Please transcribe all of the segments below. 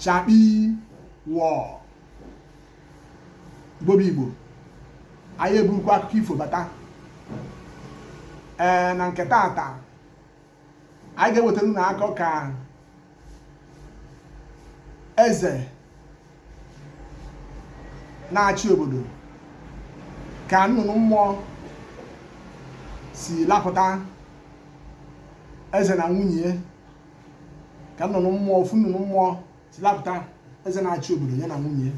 chakpi wọ igbo bụ igbo anyị eburukwa akụkọ ifo bata ee na nke taata anyị ga-ewetara unu akọ ka eze na-achị obodo ka nnụnụ mmụọ si lapụta eze na nwunye ka nnụnụ mmụọ ofu nnụnụ mmụọ si lapụta eze na-achị obodo ya na nwunye ya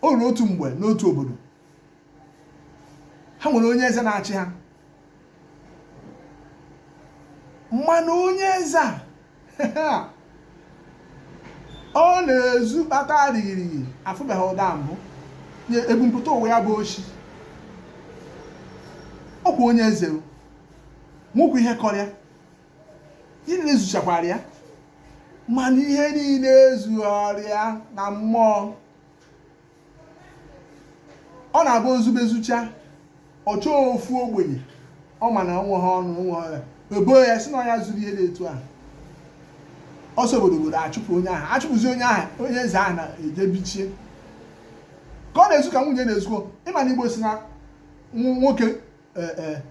o ruru otu mgbe n'otu obodo ha nwere onye eze na-achị ha mana onye eze a ọ na-ezu aka adịghịrịghị afụbeghị ụdị a mbụ ebumpụta ụwa ya bụ oshi ọkwa onye eze nwekwa ihe kọrọ ya ihe niile zuchakwara ya mana ihe niile ezughịrị ya na mmụọ ọ na-abụ o zube zucha ọ chọọ ofu ogbenye ọ ma na o nwehe ọnụ o nwere ya ebo ya sị na ya zuru ihe dị etu ahụ ọ sị obodo obodo achụpụ onye ahụ achụpụzi onye ahụ onye eze ahụ na-eje bichie ka ọ na-ezu ka nwunye na-ezukọ ị ma na igbo sị na nwoke e, e,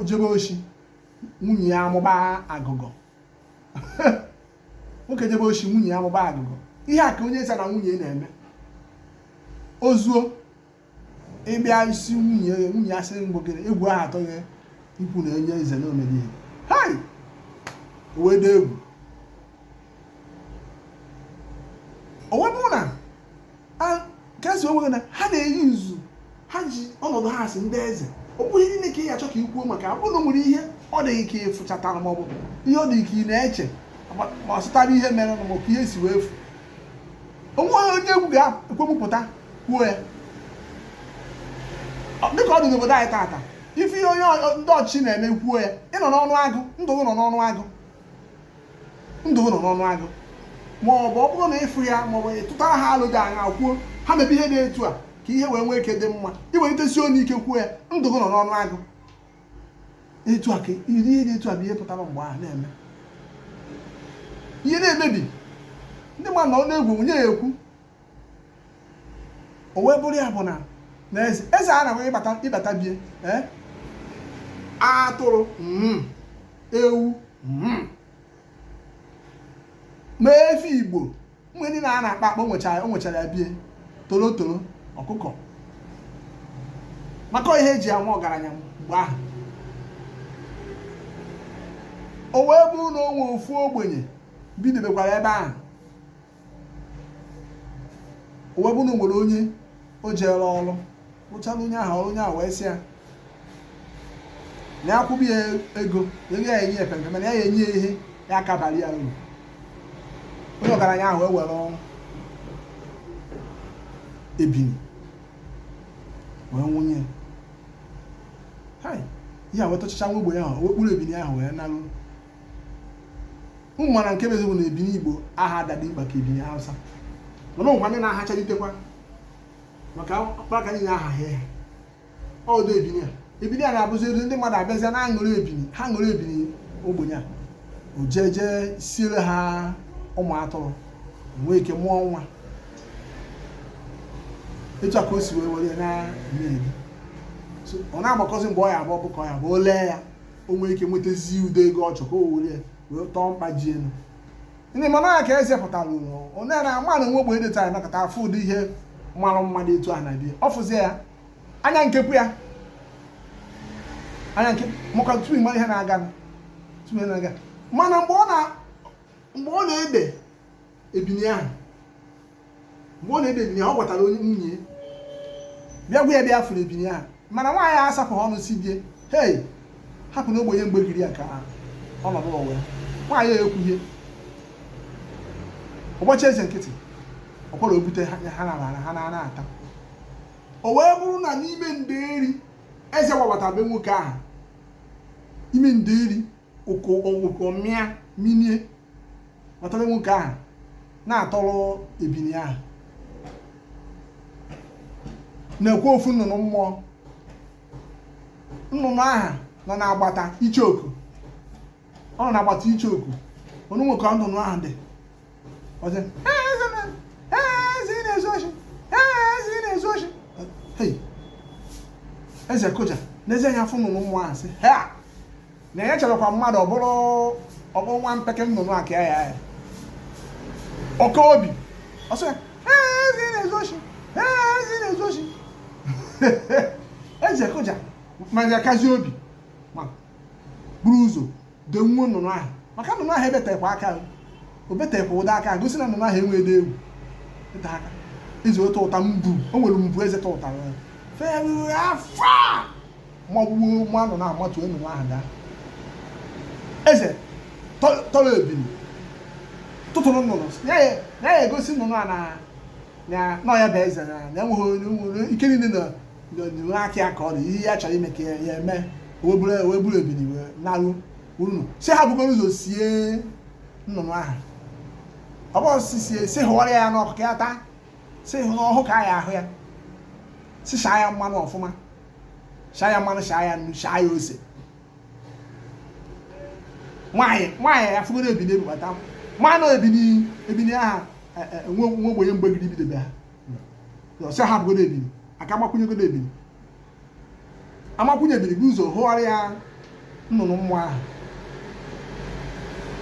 jebe oshi nwunye ya amụba agụgọ nwoke jebe oshi nwunye ya amụba agụgọ ihe a ka onye eze na nwunye na-eme o zuo ị bịa ịsị nwunye nwunye asị mgbe gịnị egwu ahụ atụ ya ikwu na onye eze na o medị ihe hai o wee dị egwu o wee bụ na ka esi onwe na ha na-eyi nzu ha ji ọnọdụ ha si ndị eze ọ bụghị niile ka ị ya-achọ ka i kwuo maka ọ bụrụ nwere ihe ọ dị gị ka ị fụchatara ma ọ bụ ihe ọ dị ka ị na-eche ma ọ sụtara ihe mere ma ọ bụ ihe si wee fu o nwe onye egwu ga-ekwe pụta kwuo ya dịka ọ dị n'obodo anyị taata ị fụ ihe onye ndị ọchịchị na-eme kwuo ya ị nọ n'ọnụ agụ ndụ gị nọ n'ọnụ agụ ndụ gị nọ n'ọnụ agụ ma ọ bụ ọ bụrụ na ị fụ ya ma ọ bụ ị tụtara ha alo dị anya kwuo ha mebe ihe dị etu a ka ihe wee nwee ike dị mma i welite isi nwee ike kwuo ya ndụ gị nọ n'ọnụ agụ etu a ka iri ihe dị etu a bụ ihe pụtara mgbe ahụ na-eme ihe na-emebi ndị mmadụ nọ n'egwu onye ya-ekwu o wee bụrụ ya bụ na na eze eze a na-enwe ị bata ị bata bie ee atụrụ mm, ewu mm. ma efi igbo mgbe ndị a na-akpa akpa o nwechara o nwechara ya bie torotoro ọkụkọ maka ihe e ji ama ọgaranya mgbe ahụ o wee bụrụ na o nwee ofu ogbenye bidebekwara ebe ahụ o wee bụrụ na o nwere onye o jeere ọrụ rụchara onye ahụ ọrụ onye ahụ wee sị ya na ya kwụba ya ego ya ya-enye ya mpempe mana ya ya-enye ya ihe ya-aka abara ya uru onye ọgaranya ahụ wee were ofu ebini wee bunye ya ihe a wee tọchachaa nwa ogbenye ahụ wee kpụrụ ebini ahụ wee naruo ụnọ mana nke bụ eziokwu na ebini igbo aha adadị mkpa ka ebini hausa mana ụmụkwa ndị na-ahachalitekwa maka akpaka niile aha ha ya ọdụ ebini a ebini a na-abụzi elu ndị mmadụ abịazịa na-aṅụrụ ebini ha ṅụrụ ebini ogbenye a o jee jee siere ha ụmụ atụrụ nwee ike mụọ nwa etu a ka o si wee were ya na-eme ebi So, ọ na-agbakọzi mgbe ọ ya-abụ ọ bụ ka ọ ya-abụ o lee ya o nwee ike nwetazi ụdị ego ọ chọrọ ka o were wee tọọ mkpa ji elu ndị mana ya ka eze pụtara onye na-ama na nwa ogbenye dịtara nakọta afụ ụdị ihe mara mma dị etu a na bie ọ fụzie ya anya nkekwu ya anya nke maka tupu ị ma ihe na-aga tupu ihe na-aga mana mgbe ọ na mgbe ọ na-ene ebini ahụ mgbe ọ na-ene ebini ahụ ọ gwatara onye nwunye bịa gwa ya bịa fụrụ ebini ahụ mana nwaanyị asapụ ọnụ sị die hei hapụ nwa ogbenye mgbe giri ya nke ahụ ọnọdụ ụwa ya nwaanyị ya ekwuhie ụbọchị eze nkịtị ọ kwa o bute ha na ha na-ata o wee bụrụ na n'ime nderi eze gbabata be nwoke ahụ ime nderi ụkọ ọgwụgwọ mịa minie kpọtara nwoke ahụ na-atọrọ ebini ahụ na-ekwe ofu nnụnụ mmụọ nnụnụ ahụ nọ n'agbata icheoku ọ nọ n'agbata icheoku o nwere ka nnụnụ ahụ dị ọ sị hei eze na-ezu oshi hei eze na-ezu oshi hei eze kụja nezie anya fụ nnụnụ mmụọ ahụ sị hei na ya cherekwa mmadụ ọ bụrụ nwa mpeke nnụnụ aka ya ya ọ ka obi ọsọ eze na-ezu oshi eze na-ezu oshi eze akụja ma ya kazi obi ma buru ụzọ dee nwa nnụnụ ahụ maka nnụnụ ahụ ebetekwa aka o betekwa ụda aka gosi na nnụnụ ahụ enweghịdị egwu ịta aka eze otu ụta mbu o nwere mbu eze ta ụta fee afọ magbuo nwa nnụnụ ahụ matuo nnụnụ ahụ daa eze tọrọ ebini tụtụrụ nnụnụ ya ya egosi nnụnụ a na na nọ ya bụ eze na na enweghị onye nwere ike niile na n'onyinwe aka ya ka ọ dị ihe ya chọrọ ime ka ya ya eme wee buru wee buru ebini wee naruo ụnọ si ha bugoro ụzọ sie nnụnụ ahụ ọ bụrụ si sie si hụwara ya n'ọkụ ka ya taa si na ọhụhụ ka a ya-ahụ ya si shaa ya mmanụ ọfụma shaa ya mmanụ shaa ya nnu shaa ya ose nwaanyị nwaanyị ya fụgoro ebini ebubata mmanụ ebini ebini aha e, e, nwa ogbenye mgbegide ibidobe ha ọ sị ha bugoro ebini aka amakwụnyegoro ebini amakwụnye ebini buru ụzọ hụwara ya nnụnụ mmụọ ahụ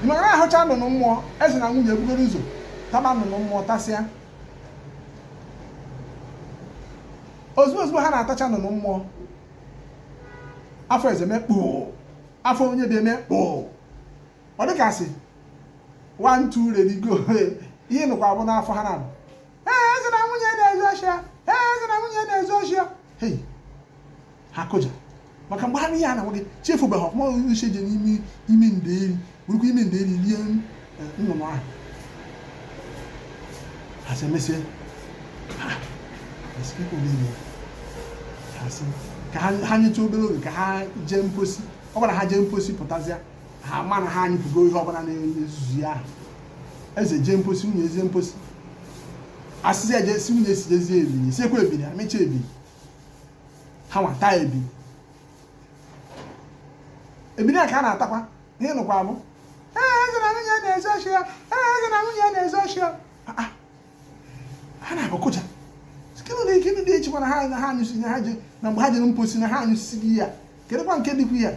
mgbe a hụcha nnụnụ mmụọ eze na nwunye ebugoro ụzọ taba nnụnụ mmụọ tasịa ozugbo ozugbo ha na-atacha nnụnụ mmụọ afọ eze mee kpo afọ onye be ya mee kpo ọ dịka a sị one two ready go ihe a nụkwa bụ n'afọ ha naabọ ee eze na nwunye na-ezu oshi a ee eze na nwunye na-ezu oshi a hei ha kụja maka mgbe ha ihe a na-agwa gị chi efobeghị ọfụma ọgụgụ isi eje n'ime ime ndeeri bụrụkwa ime ndeeri rie eh, nnụnụ ahụ ha sị emesịa ha esikekwa n'ime ha sị ka ha nyetụ obere oge ka ha jee mposi ọ bụrụ ha jee mposi pụtazịa ha ma na ha anyụpụgo ihe ọbụla na-ezuzu ya ahụ eze jee mposi nwunye ejee mposi asịzi eje si nwunye si jezie ebini siekwa ebini amecha ebini ha nwa taa ebi ebini a ka a na-atakwa ihe a nụkwa bụ ee eze na nwunye na-ezu oshi a ee eze na nwunye na-ezu oshi a Ah, ah. ha naabọ kụja gịnị na ike ndị echekwa na ha na ha anyụsi na ha ji na mgbe ha jere mposi na ha anyụsisigo ya kedụkwa nke dịkwu ya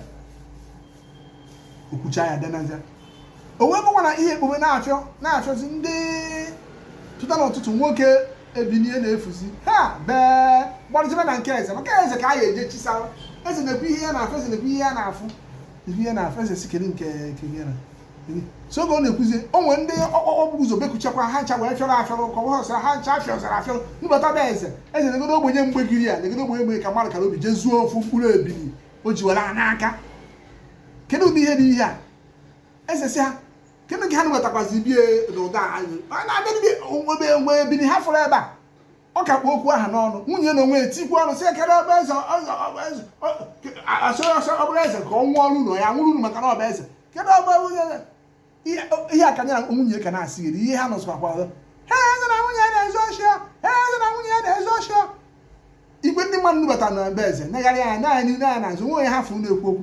o kwucha ya dinazia o wee bụkwa na ihe ekpome na-afịọ na-afịọzi ndị teta n'ụtụtụ nwoke ebini ya na-efuzi ha wee gbarụzibe na nke eze maka eze ka a ya-eje chisara eze na-ekwu ihe ya na-efu eze na-ekwu ihe ya na-efu ihe ya na-efu eze si kedu nke nke ya na so oge ọ na-ekwuzi o nwere ndị ọkpọkpọ bụ ụzọ bekuchakwa ha ncha wee fịọrọ afịọrọ ka ọ sịra ha ncha afịọzara afịọrọ bata be eze eze negodo ogbenye mgbei giri ya negodo ogbenye mgbei ka mmadụ kara obi jee zuo ofu mkpụrụ ebini o ji were n'aka kedu ụdị ihe dị ihe a eze si ha kedu ka ha na-wetakwazi bie n'ụda anyị na-abịa o nwe ebini ha fụrụ ebe a ọ ka kpụ okwu ahụ n'ọnụ nwunye na onwe etikwu ọnụ si ekere ọbụ eze asọ ọsọ ọbụrụ eze ka ọ nwụọ ọrụ ụlọ ya nwụrụ unu maka na ọ bụ eze kedu ọ bụ nwunye ihe a ka ya na nwunye ka na-asị iri ihe ha nụsịkwakwa ọzọ ha eze na nwunye na-ezu oshi ha eze na nwunye na-ezu oshi igwe ndị mmadụ nubata na be eze negharị anya naanị nee anya n'azụ nwe onye ha fụ na-ekwu okwu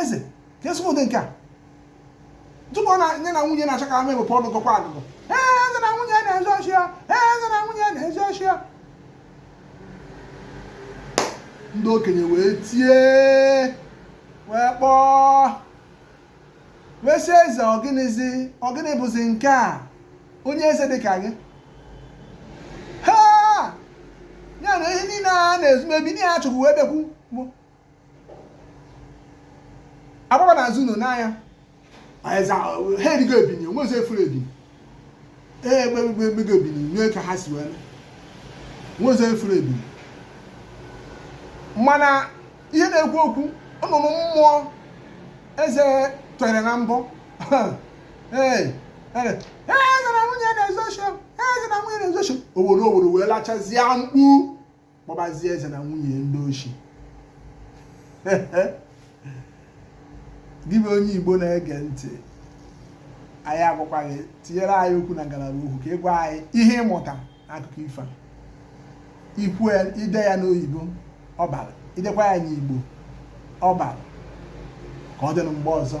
eze kezi ụdị nke a tupu ya na nwunye na-achọ ka ha mepụta ọnụ gọkwa agụgọ ee eze na nwunye na-ezu oshi ee eze na nwunye na-ezu oshi ndị okenye wee tie wee kpọọ wee sị eze ọ gịnịzi ọ gịnị bụzi nke a onye eze dị ka gị ha ya na ihe niile a na-ezu ebini a chọkwu wee bịakwu agbaba n'azụ ụnọ nya eze ahụ, ha erigo ebini o nwezi afụrọ ebini ee egbugo ebini mee ka ha si wee mee o nwezi afụrọ ebini mana ihe na-ekwu okwu nnụnụ mmụọ eze tere na mbọ ee eze na nwunye na-ezu oshi eze na nwunye na-ezu oshi owere owere wee lachazie mkpu kpọbazie eze na nwunye ndị oshi gị bụ onye igbo na-ege ntị anyị agwakwa gị tinyere anyị okwu na ngalaba okwu ka ị gwa anyị ihe ị mụta n'akụkọ ifo ikwu i dee ya n'oyibo ọ bara i dekwa ya n'igbo ọ bara ka ọ dịnụ mgbe ọzọ